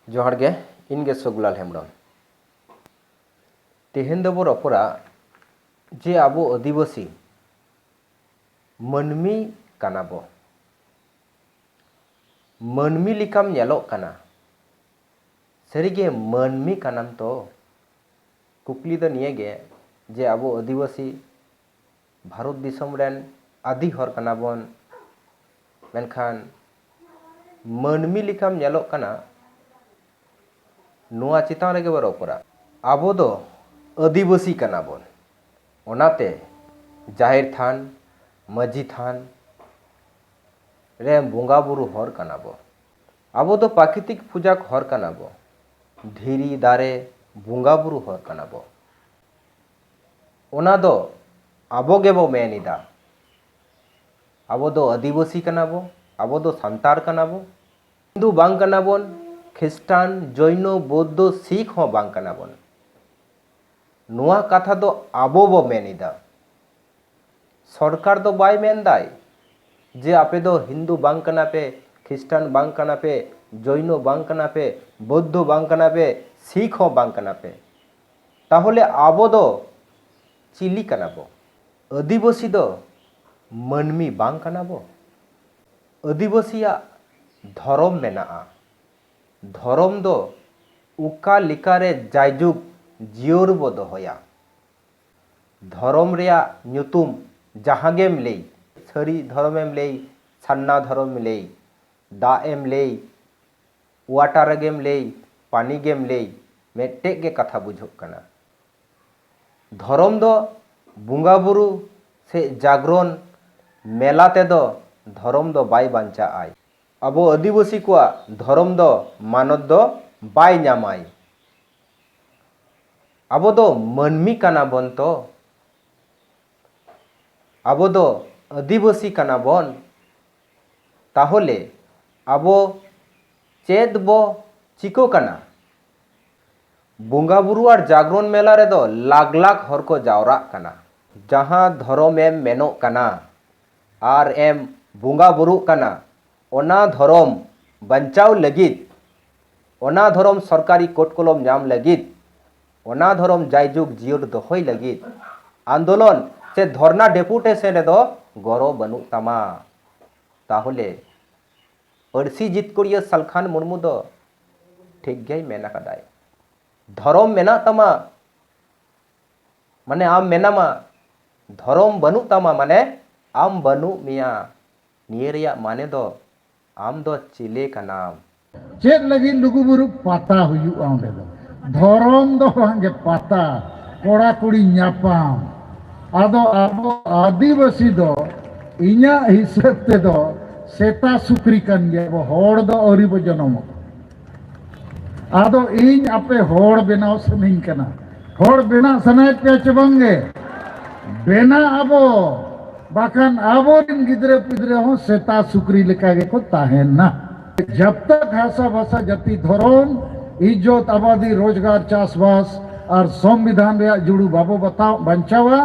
ᱡᱚᱦᱟᱨ ᱜᱮ ᱤᱧ ᱜᱮ ᱥᱚᱜᱩᱞᱟᱞ ᱦᱮᱢᱵᱨᱚᱢ ᱛᱮᱦᱮᱧ ᱫᱚᱵᱚ ᱨᱚᱯᱚᱲᱟ ᱡᱮ ᱟᱵᱚ ᱟᱹᱫᱤᱵᱟᱹᱥᱤ ᱢᱟᱹᱱᱢᱤ ᱠᱟᱱᱟ ᱵᱚ ᱢᱟᱹᱱᱢᱤ ᱞᱮᱠᱟᱢ ᱧᱮᱞᱚᱜ ᱠᱟᱱᱟ ᱥᱟᱹᱨᱤᱜᱮ ᱢᱟᱹᱱᱢᱤ ᱠᱟᱱᱟᱢ ᱛᱚ ᱠᱩᱠᱞᱤ ᱫᱚ ᱱᱤᱭᱟᱹᱜᱮ ᱡᱮ ᱟᱵᱚ ᱟᱹᱫᱤᱵᱟᱹᱥᱤ ᱵᱷᱟᱨᱚᱛ ᱫᱤᱥᱚᱢ ᱨᱮᱱ ᱟᱹᱫᱤ ᱦᱚᱲ ᱠᱟᱱᱟ ᱵᱚᱱ ᱢᱮᱱᱠᱷᱟᱱ ᱢᱟᱹᱱᱢᱤ ᱞᱮᱠᱟᱢ ᱧᱮᱞᱚᱜ ᱠᱟᱱᱟ ᱱᱚᱣᱟ ᱪᱮᱛᱟᱱ ᱨᱮᱜᱮ ᱵᱚ ᱨᱚᱯᱚᱲᱟ ᱟᱵᱚ ᱫᱚ ᱟᱹᱫᱤᱵᱟᱹᱥᱤ ᱠᱟᱱᱟ ᱵᱚᱱ ᱚᱱᱟᱛᱮ ᱡᱟᱦᱮᱨ ᱛᱷᱟᱱ ᱢᱟᱹᱡᱷᱤ ᱛᱷᱟᱱ ᱨᱮ ᱵᱚᱸᱜᱟ ᱵᱩᱨᱩ ᱦᱚᱲ ᱠᱟᱱᱟ ᱵᱚ ᱟᱵᱚ ᱫᱚ ᱯᱨᱟᱠᱨᱤᱛᱤᱠ ᱯᱩᱡᱟᱠ ᱦᱚᱲ ᱠᱟᱱᱟ ᱵᱚ ᱫᱷᱤᱨᱤ ᱫᱟᱨᱮ ᱵᱚᱸᱜᱟ ᱵᱩᱨᱩ ᱦᱚᱲ ᱠᱟᱱᱟ ᱵᱚ ᱚᱱᱟ ᱫᱚ ᱟᱵᱚ ᱜᱮᱵᱚ ᱢᱮᱱ ᱮᱫᱟ ᱟᱵᱚ ᱫᱚ ᱟᱹᱫᱤᱵᱟᱹᱥᱤ ᱠᱟᱱᱟ ᱵᱚ ᱟᱵᱚ ᱫᱚ ᱥᱟᱱᱛᱟᱲ ᱠᱟᱱᱟ ᱵᱚ ᱦᱤᱱᱫᱩ ᱵᱟᱝ ᱠᱟᱱᱟ ᱵᱚᱱ ᱠᱷᱨᱤᱥᱴᱟᱱ ᱡᱚᱭᱱᱚ ᱵᱳᱫᱽᱫᱷᱚ ᱥᱤᱠᱷ ᱦᱚᱸ ᱵᱟᱝ ᱠᱟᱱᱟ ᱵᱚᱱ ᱱᱚᱣᱟ ᱠᱟᱛᱷᱟ ᱫᱚ ᱟᱵᱚ ᱵᱚ ᱢᱮᱱ ᱮᱫᱟ ᱥᱚᱨᱠᱟᱨ ᱫᱚ ᱵᱟᱭ ᱢᱮᱱ ᱫᱟᱭ ᱡᱮ ᱟᱯᱮ ᱫᱚ ᱦᱤᱱᱫᱩ ᱵᱟᱝ ᱠᱟᱱᱟ ᱯᱮ ᱠᱷᱨᱤᱥᱴᱟᱱ ᱵᱟᱝ ᱠᱟᱱᱟ ᱯᱮ ᱡᱚᱭᱱᱚ ᱵᱟᱝ ᱠᱟᱱᱟ ᱯᱮ ᱵᱳᱫᱽᱫᱷᱚ ᱵᱟᱝ ᱠᱟᱱᱟ ᱯᱮ ᱥᱤᱠᱷ ᱦᱚᱸ ᱵᱟᱝ ᱠᱟᱱᱟ ᱯᱮ ᱛᱟᱦᱚᱞᱮ ᱟᱵᱚ ᱫᱚ ᱪᱤᱞᱤ ᱠᱟᱱᱟ ᱵᱚ? ᱟᱹᱫᱤᱵᱟᱹᱥᱤ ᱫᱚ ᱢᱟᱹᱱᱢᱤ ᱵᱟᱝ ᱠᱟᱱᱟ ᱵᱚ? ᱟᱹᱫᱤᱵᱟᱹᱥᱤᱭᱟᱜ ᱫᱷᱚᱨᱚᱢ ᱢᱮᱱᱟᱜᱼᱟ᱾ ᱫᱷᱚᱨᱚᱢ ᱫᱚ ᱚᱠᱟ ᱞᱮᱠᱟ ᱨᱮ ᱡᱟᱭᱡᱩᱜᱽ ᱡᱤᱭᱟᱹᱲ ᱵᱚ ᱫᱚᱦᱚᱭᱟ? ᱫᱷᱚᱨᱚᱢ ᱨᱮᱭᱟᱜ ᱧᱩᱛᱩᱢ ᱡᱟᱦᱟᱸ ᱜᱮᱢ ᱞᱟᱹᱭ, ᱥᱟᱹᱨᱤ ᱫᱷᱚᱨᱚᱢ ᱮᱢ ᱞᱟᱹᱭ, ᱥᱟᱨᱱᱟ ᱫᱷᱚᱨᱚᱢ ᱮᱢ ᱞᱟᱹᱭ, ᱫᱟᱜ ᱮᱢ ᱞᱟᱹᱭ, ᱣᱟᱴᱟᱨ ᱜᱮᱢ ᱞᱟᱹᱭ, ᱯᱟᱱᱤ ᱜᱮᱢ ᱞᱟᱹᱭ ᱢᱮᱫᱴᱮᱡ ᱜᱮ ᱠᱟᱛᱷᱟ ᱵᱩᱡᱷᱟᱹᱜ ᱠᱟᱱᱟ᱾ ᱫᱷᱚᱨᱚᱢ ᱫᱚ ᱵᱩᱝᱜᱟ ᱵᱩᱨᱩ ᱥᱮ ᱡᱟᱜᱽᱨᱚᱱ ᱢᱮᱞᱟ ᱛᱮ ᱫᱚ ᱫᱷᱚᱨᱚᱢ ᱫᱚ ᱵᱟᱭ ᱵᱟᱧᱪᱟᱜ ᱟᱭ᱾ ᱟᱵᱚ ᱟᱹᱫᱤᱵᱟᱹᱥᱤ ᱠᱚᱣᱟᱜ ᱫᱷᱚᱨᱚᱢ ᱫᱚ ᱢᱟᱱᱚᱛ ᱫᱚ ᱵᱟᱭ ᱧᱟᱢ ᱟᱭ᱾ ᱟᱵᱚ ᱫᱚ ᱢᱟᱹᱱᱢᱤ ᱠᱟᱱᱟ ᱵᱚᱱ ᱛᱚ᱾ ᱟᱵᱚ ᱫᱚ ᱟᱹᱫᱤᱵᱟᱹᱥᱤ ᱠᱟᱱᱟ ᱵᱚᱱ ᱛᱟᱦᱚᱞᱮ ᱟᱵᱚ ᱪᱮᱫ ᱵᱚ ᱪᱤᱠᱟᱹ ᱠᱟᱱᱟ? ᱵᱚᱸᱜᱟ ᱵᱩᱨᱩ ᱟᱨ ᱡᱟᱜᱽᱨᱚᱱ ᱢᱮᱞᱟ ᱨᱮᱫᱚ ᱞᱟᱠᱷ ᱞᱟᱠᱷ ᱦᱚᱲ ᱠᱚ ᱡᱟᱣᱨᱟᱜ ᱠᱟᱱᱟ᱾ ᱡᱟᱦᱟᱸ ᱫᱷᱚᱨᱚᱢ ᱮᱢ ᱢᱮᱱᱚᱜ ᱠᱟᱱᱟ ᱟᱨ ᱮᱢ ᱵᱚᱸᱜᱟ ᱵᱩᱨᱩᱜ ᱠᱟᱱᱟ ᱚᱱᱟ ᱫᱷᱚᱨᱚᱢ ᱵᱟᱧᱪᱟᱣ ᱞᱟᱹᱜᱤᱫ, ᱚᱱᱟ ᱫᱷᱚᱨᱚᱢ ᱥᱚᱨᱠᱟᱨᱤ ᱠᱳᱴ ᱠᱚᱞᱚᱢ ᱧᱟᱢ ᱞᱟᱹᱜᱤᱫ, ᱚᱱᱟ ᱫᱷᱚᱨᱚᱢ ᱡᱟᱭᱡᱩᱜᱽ ᱡᱤᱭᱟᱹᱲ ᱫᱚᱦᱚᱭ ᱞᱟᱹᱜᱤᱫ ᱟᱱᱫᱳᱞᱚᱱ ᱥᱮ ᱫᱷᱚᱨᱱᱟ ᱰᱮᱯᱩᱴᱮᱥᱚᱱ ᱨᱮᱫᱚ ᱜᱚᱨᱚ ᱵᱟᱹᱱᱩᱜ ᱛᱟᱢᱟ᱾ ᱛᱟᱦᱚᱞᱮ ᱯᱟᱹᱨᱥᱤ ᱡᱤᱛᱠᱟᱹᱨᱤᱭᱟᱹ ᱥᱟᱞᱠᱷᱟᱱ ᱢᱩᱨᱢᱩ ᱫᱚ ᱴᱷᱤᱠ ᱜᱮᱭ ᱢᱮᱱ ᱟᱠᱟᱫᱟᱭ᱾ ᱫᱷᱚᱨᱚᱢ ᱢᱮᱱᱟᱜ ᱛᱟᱢᱟ ᱢᱟᱱᱮ ᱟᱢ ᱢᱮᱱᱟᱢᱟ, ᱫᱷᱚᱨᱚᱢ ᱵᱟᱹᱱᱩᱜ ᱛᱟᱢᱟ ᱢᱟᱱᱮ ᱟᱢ ᱵᱟᱹᱱᱩᱜ ᱢᱮᱭᱟ᱾ ᱱᱤᱭᱟᱹ ᱨᱮᱭᱟᱜ ᱢᱟᱱᱮ ᱫᱚ ᱟᱢ ᱫᱚ ᱪᱤᱞᱮ ᱠᱟᱱᱟᱢ? ᱪᱮᱫ ᱞᱟᱹᱜᱤᱫ ᱞᱩᱜᱩᱵᱩᱨᱩ ᱯᱟᱛᱟ ᱦᱩᱭᱩᱜᱼᱟ ᱚᱸᱰᱮ ᱫᱚ? ᱫᱷᱚᱨᱚᱢ ᱫᱚ ᱵᱟᱝ ᱜᱮ ᱯᱟᱛᱟ ᱠᱚᱲᱟ ᱠᱩᱲᱤ ᱧᱟᱯᱟᱢ ᱟᱫᱚ ᱟᱵᱚ ᱟᱹᱫᱤᱵᱟᱹᱥᱤ ᱫᱚ ᱤᱧᱟᱜ ᱦᱤᱥᱟᱹᱵ ᱛᱮᱫᱚ ᱥᱮᱛᱟ ᱥᱩᱠᱨᱤ ᱠᱟᱱ ᱜᱮᱭᱟ ᱵᱚ ᱦᱚᱲ ᱫᱚ ᱟᱹᱣᱨᱤ ᱵᱚ ᱡᱚᱱᱚᱢᱚᱜ᱾ ᱟᱫᱚ ᱤᱧ ᱟᱯᱮ ᱦᱚᱲ ᱵᱮᱱᱟᱣ ᱥᱟᱱᱟᱧ ᱠᱟᱱᱟ ᱦᱚᱲ ᱵᱮᱱᱟᱣ ᱥᱟᱱᱟᱭᱮᱫ ᱯᱮᱭᱟ ᱪᱮ ᱵᱟᱝᱜᱮ ᱵᱮᱱᱟᱜ ᱟᱵᱚ ᱵᱟᱠᱷᱟᱱ ᱟᱵᱚᱨᱮᱱ ᱜᱤᱫᱽᱨᱟᱹ ᱯᱤᱫᱽᱨᱟᱹ ᱦᱚᱸ ᱥᱮᱛᱟ ᱥᱩᱠᱨᱤ ᱞᱮᱠᱟ ᱜᱮᱠᱚ ᱛᱟᱦᱮᱱᱟ ᱡᱟᱵ ᱛᱟᱠ ᱦᱟᱥᱟ ᱵᱷᱟᱥᱟ ᱡᱟᱹᱛᱤ ᱫᱷᱚᱨᱚᱢ ᱤᱡᱽᱡᱚᱛ ᱟᱵᱟᱫᱤ ᱨᱳᱡᱽᱜᱟᱨ ᱪᱟᱥᱵᱟᱥ ᱟᱨ ᱥᱚᱝᱵᱤᱫᱷᱟᱱ ᱨᱮᱭᱟᱜ ᱡᱩᱲᱩ ᱵᱟᱵᱚ ᱵᱟᱛᱟᱣ ᱵᱟᱧᱪᱟᱣᱟ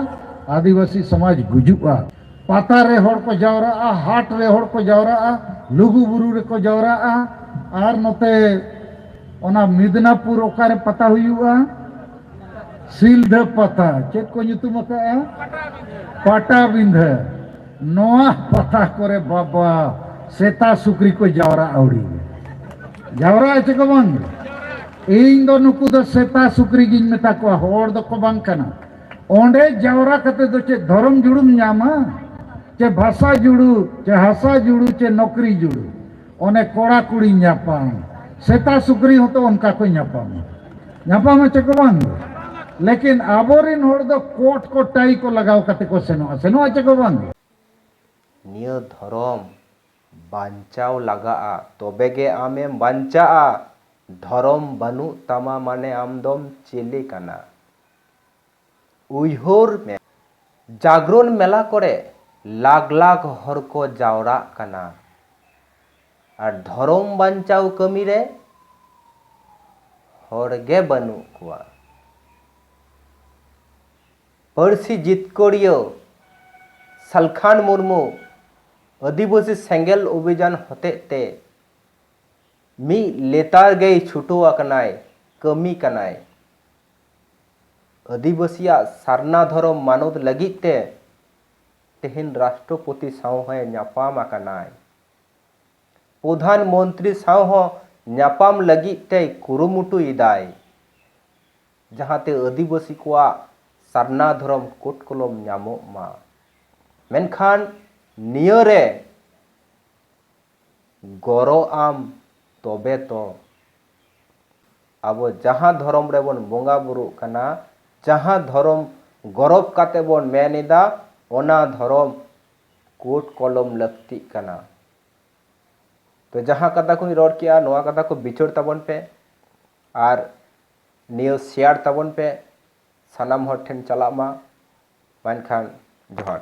ᱟᱹᱫᱤᱵᱟᱹᱥᱤ ᱥᱚᱢᱟᱡᱽ ᱜᱩᱡᱩᱜᱼᱟ ᱯᱟᱛᱟ ᱨᱮ ᱦᱚᱲ ᱠᱚ ᱡᱟᱣᱨᱟᱜᱼᱟ ᱦᱟᱴ ᱨᱮ ᱦᱚᱲ ᱠᱚ ᱡᱟᱣᱨᱟᱜᱼᱟ ᱞᱩᱜᱩ ᱵᱩᱨᱩ ᱨᱮᱠᱚ ᱡᱟᱣᱨᱟᱜᱼᱟ ᱟᱨ ᱱᱚᱛᱮ ᱚᱱᱟ ᱢᱤᱫᱽᱱᱟᱯᱩᱨ ᱚᱠᱟᱨᱮ ᱯᱟᱛᱟ ᱦᱩᱭᱩᱜᱼᱟ ᱥᱤᱞᱫᱷᱟᱹ ᱯᱟᱛᱟ ᱪᱮᱫ ᱠᱚ ᱧᱩᱛᱩᱢ ᱟᱠᱟᱜᱼᱟ ᱯᱟᱴᱟᱵᱤᱸᱫᱷᱟᱹ ᱱᱚᱣᱟ ᱯᱟᱛᱟ ᱠᱚᱨᱮ ᱵᱟᱵᱟ ᱥᱮᱛᱟ ᱥᱩᱠᱨᱤ ᱠᱚ ᱡᱟᱣᱨᱟ ᱟᱹᱣᱲᱤ ᱡᱟᱣᱨᱟᱜᱼᱟ ᱪᱮ ᱠᱚ ᱵᱟᱝ ᱤᱧ ᱫᱚ ᱱᱩᱠᱩ ᱫᱚ ᱥᱮᱛᱟ ᱥᱩᱠᱨᱤ ᱜᱤᱧ ᱢᱮᱛᱟ ᱠᱚᱣᱟ ᱦᱚᱲ ᱫᱚᱠᱚ ᱵᱟᱝ ᱠᱟᱱᱟ ᱚᱸᱰᱮ ᱡᱟᱣᱨᱟ ᱠᱟᱛᱮ ᱫᱚ ᱪᱮᱫ ᱫᱷᱚᱨᱚᱢ ᱡᱩᱲᱩᱢ ᱧᱟᱢᱟ ᱪᱮ ᱵᱷᱟᱥᱟ ᱡᱩᱲᱩ ᱪᱮ ᱦᱟᱥᱟ ᱡᱩᱲᱩ ᱪᱮ ᱱᱚᱠᱨᱤ ᱡᱩᱲᱩ ᱚᱱᱮ ᱠᱚᱲᱟ ᱠᱩᱲᱤ ᱧᱟᱯᱟᱢ ᱥᱮᱛᱟ ᱥᱩᱠᱨᱤ ᱦᱚᱸᱛᱚ ᱚᱱᱠᱟ ᱠᱚ ᱧᱟᱯᱟᱢᱟ ᱧᱟᱯᱟᱢᱟ ᱪᱮ ᱠᱚ ᱵᱟᱝ ᱜᱮ ᱞᱮᱠᱤᱱ ᱟᱵᱚᱨᱮᱱ ᱦᱚᱲ ᱫᱚ ᱠᱚᱴ ᱠᱚ ᱴᱟᱭ ᱠᱚ ᱞᱟᱜᱟᱣ ᱠᱟᱛᱮ ᱠᱚ ᱥᱮᱱᱚᱜᱼᱟ ᱥᱮᱱᱚᱜᱼᱟ ᱪᱮ ᱠᱚ ᱵᱟᱝ ᱜᱮ᱾ ᱱᱤᱭᱟᱹ ᱫᱷᱚᱨᱚᱢ ᱵᱟᱧᱪᱟᱣ ᱞᱟᱜᱟᱜᱼᱟ ᱛᱚᱵᱮ ᱜᱮ ᱟᱢ ᱮᱢ ᱵᱟᱧᱪᱟᱜᱼᱟ ᱫᱷᱚᱨᱚᱢ ᱵᱟᱹᱱᱩᱜ ᱛᱟᱢᱟ ᱢᱟᱱᱮ ᱟᱢ ᱫᱚᱢ ᱪᱮᱞᱮ ᱠᱟᱱᱟ ᱩᱭᱦᱟᱹᱨ ᱢᱮ, ᱡᱟᱜᱽᱨᱚᱱ ᱢᱮᱞᱟ ᱠᱚᱨᱮ ᱞᱟᱠᱷ ᱞᱟᱠᱷ ᱦᱚᱲ ᱠᱚ ᱡᱟᱣᱨᱟᱜ ᱠᱟᱱᱟ ᱟᱨ ᱫᱷᱚᱨᱚᱢ ᱵᱟᱧᱪᱟᱣ ᱠᱟᱹᱢᱤ ᱨᱮ ᱦᱚᱲ ᱜᱮ ᱵᱟᱹᱱᱩᱜ ᱠᱚᱣᱟ᱾ ᱯᱟᱹᱨᱥᱤ ᱡᱤᱛᱠᱟᱹᱨᱤᱭᱟᱹ ᱥᱟᱞᱠᱷᱟᱱ ᱢᱩᱨᱢᱩ ᱟᱹᱫᱤᱵᱟᱹᱥᱤ ᱥᱮᱸᱜᱮᱞ ᱚᱵᱷᱤᱡᱟᱱ ᱦᱚᱛᱮᱡ ᱛᱮ ᱢᱤᱫ ᱞᱮᱛᱟᱲ ᱜᱮᱭ ᱪᱷᱩᱴᱟᱹᱣ ᱟᱠᱟᱱᱟᱭ, ᱠᱟᱹᱢᱤ ᱠᱟᱱᱟᱭ᱾ ᱟᱹᱫᱤᱵᱟᱹᱥᱤᱭᱟᱜ ᱥᱟᱨᱱᱟ ᱫᱷᱚᱨᱚᱢ ᱢᱟᱱᱚᱛ ᱞᱟᱹᱜᱤᱫ ᱛᱮ ᱛᱮᱦᱮᱧ ᱨᱟᱥᱴᱨᱚᱯᱚᱛᱤ ᱥᱟᱶ ᱦᱚᱸᱭ ᱧᱟᱯᱟᱢ ᱟᱠᱟᱱᱟᱭ᱾ ᱯᱚᱫᱷᱟᱱ ᱢᱚᱱᱛᱨᱤ ᱥᱟᱶ ᱦᱚᱸ ᱧᱟᱯᱟᱢ ᱞᱟᱹᱜᱤᱫ ᱛᱮᱭ ᱠᱩᱨᱩᱢᱩᱴᱩ ᱮᱫᱟᱭ, ᱡᱟᱦᱟᱸ ᱛᱮ ᱟᱹᱫᱤᱵᱟᱹᱥᱤ ᱠᱚᱣᱟᱜ ᱥᱟᱨᱱᱟ ᱫᱷᱚᱨᱚᱢ ᱠᱳᱰ ᱠᱚᱞᱚᱢ ᱧᱟᱢᱚᱜ ᱢᱟ᱾ ᱢᱮᱱᱠᱷᱟᱱ ᱱᱤᱭᱟᱹ ᱨᱮ ᱜᱚᱨᱚ ᱟᱢ ᱛᱚᱵᱮ ᱛᱚ᱾ ᱟᱵᱚ ᱡᱟᱦᱟᱸ ᱫᱷᱚᱨᱚᱢ ᱨᱮᱵᱚᱱ ᱵᱚᱸᱜᱟ ᱵᱩᱨᱩᱜ ᱠᱟᱱᱟ, ᱡᱟᱦᱟᱸ ᱫᱷᱚᱨᱚᱢ ᱜᱚᱨᱚᱵᱽ ᱠᱟᱛᱮ ᱵᱚᱱ ᱢᱮᱱ ᱮᱫᱟ ᱚᱱᱟ ᱫᱷᱚᱨᱚᱢ ᱠᱳᱰ ᱠᱚᱞᱚᱢ ᱞᱟᱹᱠᱛᱤᱜ ᱠᱟᱱᱟ᱾ ᱛᱚ ᱡᱟᱦᱟᱸ ᱠᱟᱛᱷᱟ ᱠᱚᱧ ᱨᱚᱲ ᱠᱮᱜᱼᱟ ᱱᱚᱣᱟ ᱠᱟᱛᱷᱟ ᱠᱚ ᱵᱤᱪᱟᱹᱨ ᱛᱟᱵᱚᱱ ᱯᱮ ᱟᱨ ᱱᱤᱭᱟᱹ ᱥᱮᱭᱟᱨ ᱛᱟᱵᱚᱱ ᱯᱮ ᱥᱟᱱᱟᱢ ᱦᱚᱲ ᱴᱷᱮᱱ ᱪᱟᱞᱟᱜ ᱢᱟ᱾ ᱢᱟ ᱮᱱᱠᱷᱟᱱ ᱡᱚᱦᱟᱨ᱾